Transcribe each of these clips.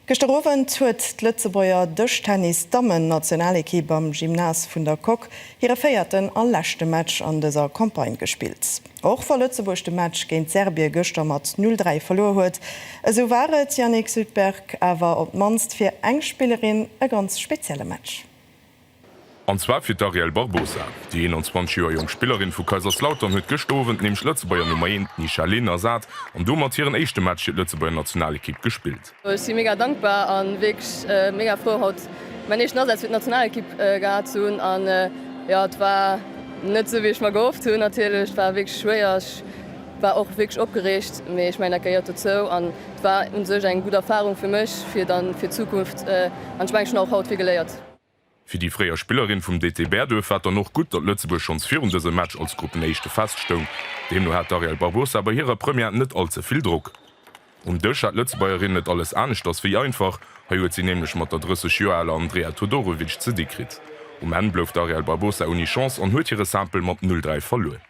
Gëschter Owend huet d'Lëtzebuerger Dëschtennis-Dammen-Nationalekipp am Gymnase vun der Coque hire véierten a leschte Match an dëser Campagne gespillt. Och wa Lëtzebuerg de Match géint Serbie gëschter mat 'null dräi' verluer huet, esou war et, Yannick Sudberg, awer op d'mannst fir eng Spillerin e ganz spezielle Match. An zwar fir d'Ariel Barbosa. Déi 21 Joer jonk Spillerin vu Kaiserslautern huet gëscht Owend nämlech d'Lëtzebuerger Nummer 1, d'Nisha Lehn, ersat an domat hiren éischte Match fir d'Lëtzebuerger Nationalekipp gespillt. Ech si mega dankbar a wierklech mega frou haut mäin éischten Asaz fir d'Nationalekipp gehat ze hunn. An jo, et war net esou wéi ech mer gehofft hunn natierlech. Et war wierklech schwéier, ech war och wierklech opgereegt, mee ech mengen dat gehéiert dozou an et war un sech eng gutt Erfarung fir mech fir dann fir d'Zukunft an ech mengen ech hunn och haut vill geléiert. Fir déi fréier Spillerin vum DT Bäerduerf war et dann och gutt, datt Lëtzebuerg schonns virun dësem Match als Gruppenéischte feststoung. Deemno hat d'Ariel Barbosa bei hirer Première net all ze vill Drock. Um Dësch hat d'Lëtzebuergerin et alles aneschters wéi einfach. Hei huet si nämlech mat der 30 Joer aler Andrea Todorovic ze di kritt. Um Enn blouf d'Ariel Barbosa ouni Chance an huet hire Simple mat 'Null-Dräi' verluer.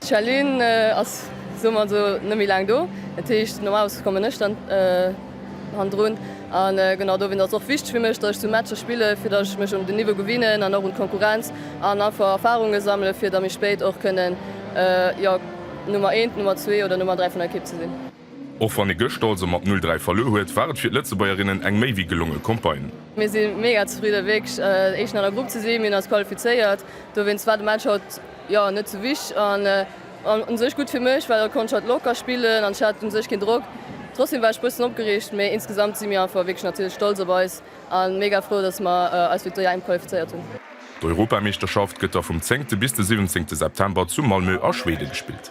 D'Chalune ass, soe mer esou, net méi laang do. Dat heescht, normalerweis kommen ech dann hannendrun. A genau dowéinst ass et och wichteg fir mech, datt ech sou Matcher spillen, fir datt ech mech un den Niveau gewinnen an och un d'Konkurrenz an einfach Erfarunge sammelen, fir da méi spéit och kënnen, jo, Nummer eent, Nummer zwee oder Nummer dräi vun der Ekipp ze sinn. Och wann ee gëschter also mat 'Null dräi' verluer huet, war et fir d'Lëtzebuergerinnen eng méi wéi gelonge Campagne. Mir si mega zefridde wierklech Éischten an der Grupp ze sinn. Mir hunn eis qualifizéiert, dowéinst war de Match haut jo net sou wichteg an u sech gutt fir mech, well haut konnt ech hatt locker spillen an ech hat u sech keen Drock. Trotzdem war ech bëssen opgereegt, mee insgesamt si mir einfach wierklech natierlech stolz op eis a mega frou, dass mer eis fir d'EM qualifizéiert hunn. D'Europameeschterschaft gëtt da vum zéngte bis de siwwenzéngte September zu Malmö a Schwede gespillt.